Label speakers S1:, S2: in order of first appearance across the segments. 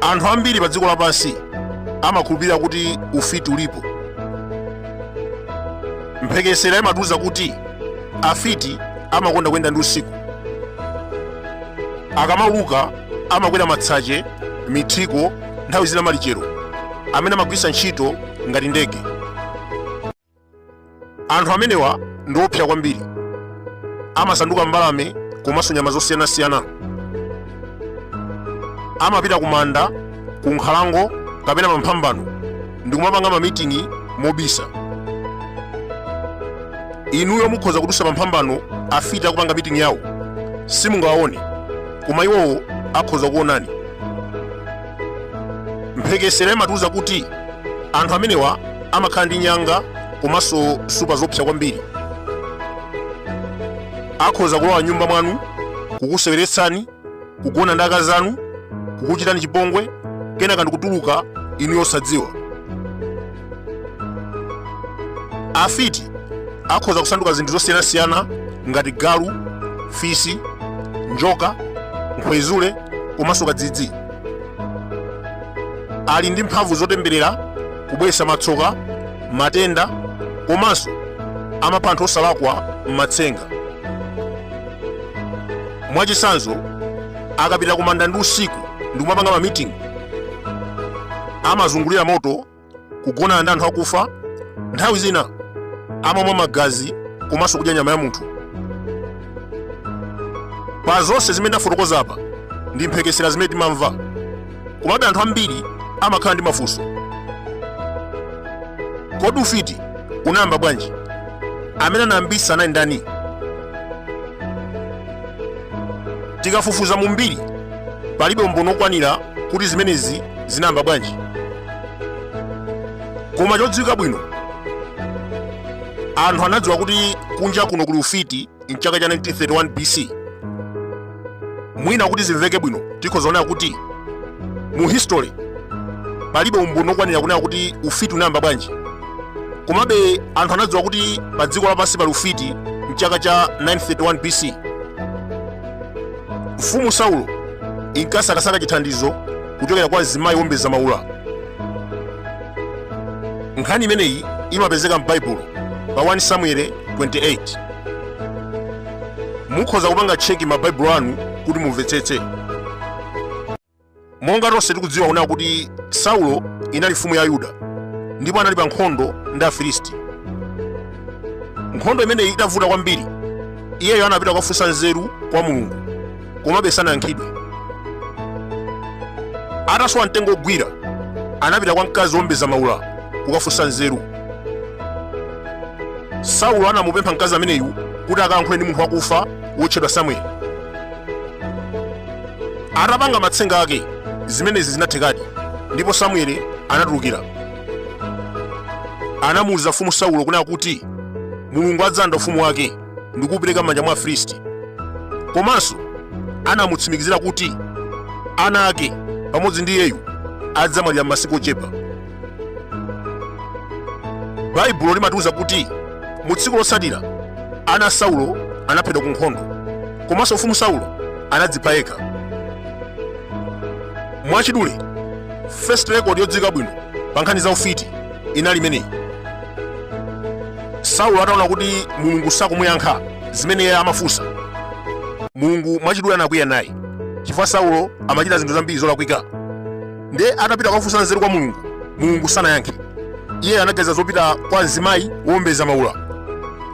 S1: anthu ambiri pa dziko lapansi amakhulupirira kuti ufiti ulipo mphekesera imatiuza kuti afiti amakonda kuyenda ndi usiku akamauluka Amakwera matsache, mithiko, nthawi zina malichero, amene amagwiritsa ntchito ngati ndege. Anthu amenewa ndi oopsa kwambiri. Amasanduka mbalame komanso nyama zosiyanasiyana. Amapita ku manda, ku nkhalango kapena pa mphambano ndi kumapanga mamiting'i mobisa. Inuyo mukhoza kudutsa pa mphambano afiti akupanga miting'i yawo, simungawaone. koma iwowo akhoza kuonani mphekesera imatiuza kuti anthu amenewa amakhala ndi nyanga komanso supa zoopsa kwambiri akhoza kulowa nyumba mwanu kukuseweretsani kugona ndi akazi anu kukuchitani chipongwe kenaka ndikutuluka inuyo osadziwa afiti akhoza kusanduka zinthu zosiyanasiyana ngati galu fisi njoka nkhwezule komanso kadzidzi ali ndi mphamvu zotemberera kubweretsa matsoka matenda komanso amapha anthu osalakwa m'matsenga mwachitsanzo akapita kumanda ndi usiku ndi kumapanga mamiting'i amazungulira moto kugonana ndi anthu akufa nthawi zina amamwa magazi komanso kudya nyama ya munthu pa zonse zimene ndafotokoza apa ndi mphekesera zimene timamva komabe anthu ambiri amakhala ndi mafunso kodi ufiti unayamba bwanji amene anayambitsa anali ndani tikafufuza mu mbiri palibe umboni okwanira kuti zimenezi zinayamba bwanji koma chodziwika bwino anthu anadziwa kuti kunja kuno kuli ufiti mchaka cha 1931 bc mwina kuti zimveke bwino tikhoza kunena kuti mu history palibe umboni okwanira kunena kuti ufiti unayamba bwanji komabe anthu anadziwa kuti pa dziko lapansi pali ufiti mchaka cha 931 bc mfumu saulo inkasakasaka chithandizo kuchokera kwa mzimayi wombeza maula nkhani imeneyi imapezeka m'baibulo pa 1 samueli 28 mukhoza kupanga tcheki mabaibulo anu kuti mumvetsetse monga tonse tikudziwa kunena kuti saulo inali mfumu ya ayuda ndipo anali pa nkhondo ndi afilisti nkhondo imeneyi itavuta kwambiri iyeyo anapita kukafunsa nzeru kwa mulungu komabe sanayankhidwe atasowa mtengo ogwira anapita kwa mkazi wowombeza maula kukafunsa nzeru saulo anamupempha mkazi ameneyu kuti akayankhule ndi munthu wakufa wotchedwa samueli Atapanga matsenga ake, zimenezi zinathekadi, ndipo Samueli anatulukira. Anamuwuza mfumu Saulo kunena kuti Mulungu adzalanda ufumu wake ndi kuwupereka m'manja mwa Afilisti. Komanso anamutsimikizira kuti ana ake pamodzi ndi iyeyu adzamwalira m'masiku ochepa. baibulo limatiuza kuti mu tsiku lotsatira ana a saulo anaphedwa ku nkhondo komanso mfumu saulo anadzipha yekha mwachidule first record yodziwika bwino pa nkhani za ufiti inali imeneyi saulo ataona kuti mulungu sakumuyankha zimene iye amafunsa mulungu mwachidule anakwiya naye chifukwa saulo amachita zinthu zambiri zolakwika ndiye atapita kukafunsa nzeru kwa mulungu mulungu sanayankhe iye anaganiza zopita kwa mzimayi wowombeza maula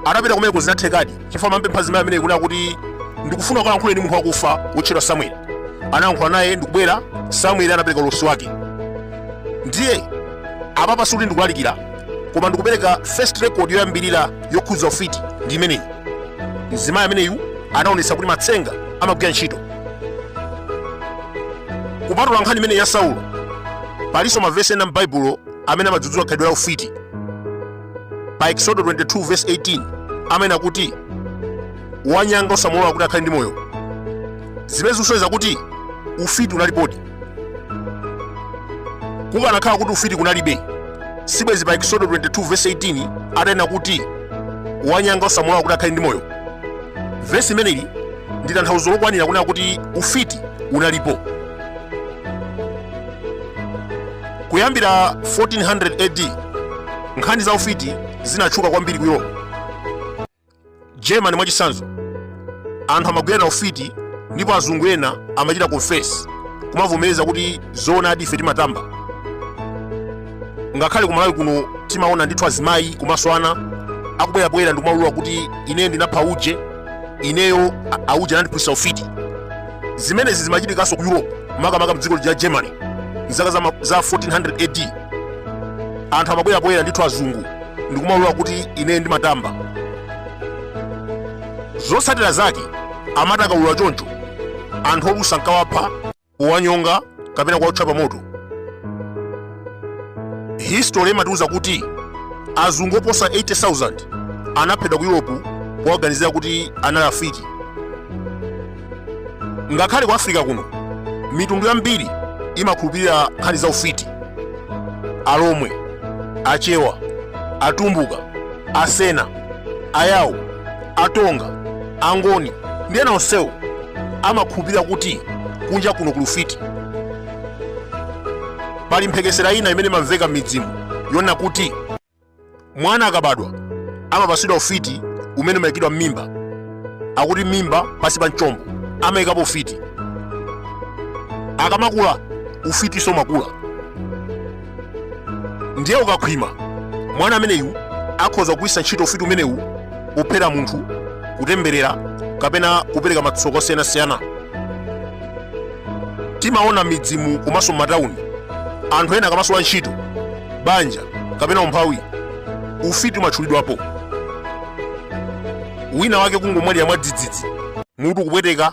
S1: atapita kumeneko zinathekadi chifukwa amampempha mzimayi ameneyu kunena kuti ndikufuna kukalankhula ndi munthu wakufa wotchedwa samueli anayankhula naye ndikubwera samueli anapereka ulosi wake ndiye apapa sikuti ndikulalikira koma ndikupereka first record yoyambirira yokhudza ufiti ndi imeneyi mzimayi ameneyu anaonetsa kuti matsenga amagwira ntchito kupatula nkhani imeneyi ya saulo palinso mavesi ena m'baibulo amene amadzudzula khalidwe la ufiti pa eksodo 22 verse 18 amanena kuti wanyanga usamulole kuti akhale ndi moyo zimene zikusonyeza kuti ufiti unalipodi kukanakhala kuti ufiti kunalibe sibwezi pa eksodo 22 verse 18 atanena kuti wanyanga usamulole kuti akhale ndi moyo vesi imeneli ndi tanthauzo lokwanira kunena kuti ufiti unalipo kuyambira 1400 ad nkhani za ufiti zinatchuka kwambiri ku europe germany mwachitsanzo anthu amagwirana ufiti ndipo azungu ena amachita confess kumavomereza kuti zoonadi ife timatamba ngakhale ku malawi kuno timaona ndithu azimayi komanso ana akubwera poyera ndikumaulula kuti ine ndinapha uje ineyo auje anandiphunzitsa ufiti zimenezi zimachitikanso ku europe makamaka mdziko la germany mzaka za 1400 ad anthu amabwera poyera ndithu azungu ndikumaulula kuti ineyo ndimatamba zotsatira zake amati akaulula choncho anthu olusa nkawapha kuwanyonga kapena kuwaotcha pa moto history imatiuza kuti azungu oposa 80,000 anaphedwa ku europe powaganizira kuti anali afiti ngakhale ku africa kuno mitundu yambiri imakhulupirira nkhani za ufiti alomwe achewa atumbuka asena ayawo atonga angoni ndi ena onsewo amakhulupirira kuti kunja kuno kuli ufiti pali mphekesera ina imene imamveka m'midzimu yonena kuti mwana akabadwa amapatsidwa ufiti umene umayikidwa m'mimba akuti m'mimba pansi pa mchombo amayikapo ufiti akamakula ufiti somakula ndiye ukakhwima mwana ameneyu akhoza kugwiritsa ntchito ufiti umenewu kuphera munthu kutemberera kapena kupereka matsoka osiyanasiyana timaona m'midzimu komanso m'matawuni anthu ena akamasowa ntchito banja kapena umphawi ufiti umatchulidwapo wina wake kungomwalira mwadzidzidzi mutu kupweteka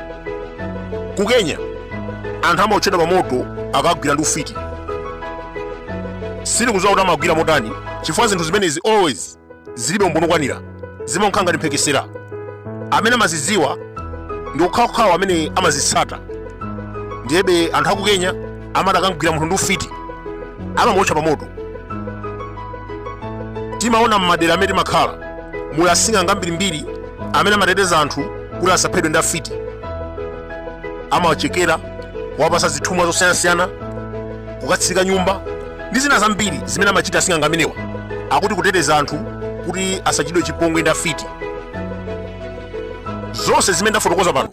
S1: ku kenya anthu amaotchedwa pamoto akagwidwa ndi ufiti sindikudziwa kuti amawagwira motani chifukwa zinthu zimenezi always zilibe umboni wokwanira zimakhala ngati mphekesera amene amazidziwa ndi okhaokhawo amene amazitsata ndiyebe anthu aku kenya amati akagwira munthu ndi ufiti amamuotcha pa moto timaona m'madera amene timakhala muli asing'anga ambirimbiri amene amateteza anthu kuti asaphedwe ndi afiti amawachekera kuwapasa zithumwa zosiyanasiyana kukatsika nyumba ndi zina zambiri zimene amachita asing'anga amenewa akuti kuteteza anthu kuti asachitidwe chipongwe ndi afiti zonse zimene ndafotokoza pano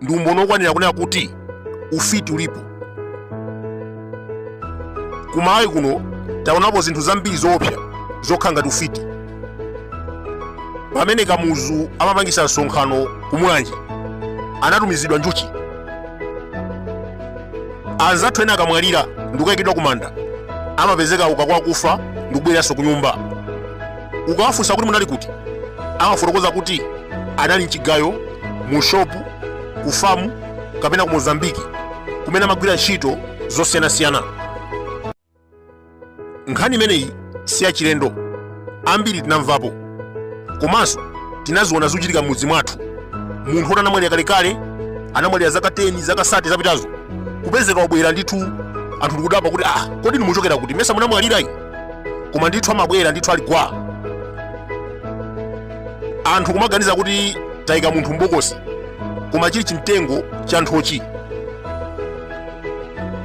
S1: ndi umboni wokwanira kunena kuti ufiti ulipo kumalawi kuno taonapo zinthu zambiri zoopsa zokhala ngati ufiti pamene kamuzu amapangisa msonkhano kumulanje anatumizidwa njuchi anzathu ena akamwalira ndikukayikidwa kumanda amapezeka auka kwa akufa ndikubweranso kunyumba ukawafunsa kuti munali kuti amafotokoza kuti anali mchigayo mu shopu ku famu kapena ku mozambiki kumene amagwira ntchito zosiyanasiyana nkhani imeneyi si yachilendo ambiri tinamvapo komanso tinaziona zikuchitika m'mudzi mwathu munthu woti anamwalira kalekale anamwalira zaka 10 zaka 30 zapitazo kupezeka wabwera ndithu anthu ndikudabwa kuti ah kodi ndimuchokera kuti mesa munamwalirayi koma ndithu amabwera ndithu ali gwa anthu kumaganiza kuti taika munthu m'bokosi koma chili chimtengo cha nthochi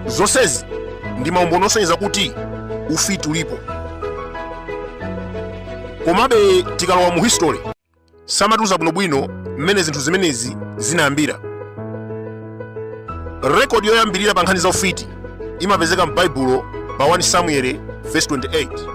S1: zonsezi ndi maumboni osonyeza kuti ufiti ulipo komabe tikalowa mu history samatiuza bwinobwino mmene zinthu zimenezi zinayambira rekodi yoyambirira pa nkhani za ufiti imapezeka m'baibulo pa 1 samueli verse 28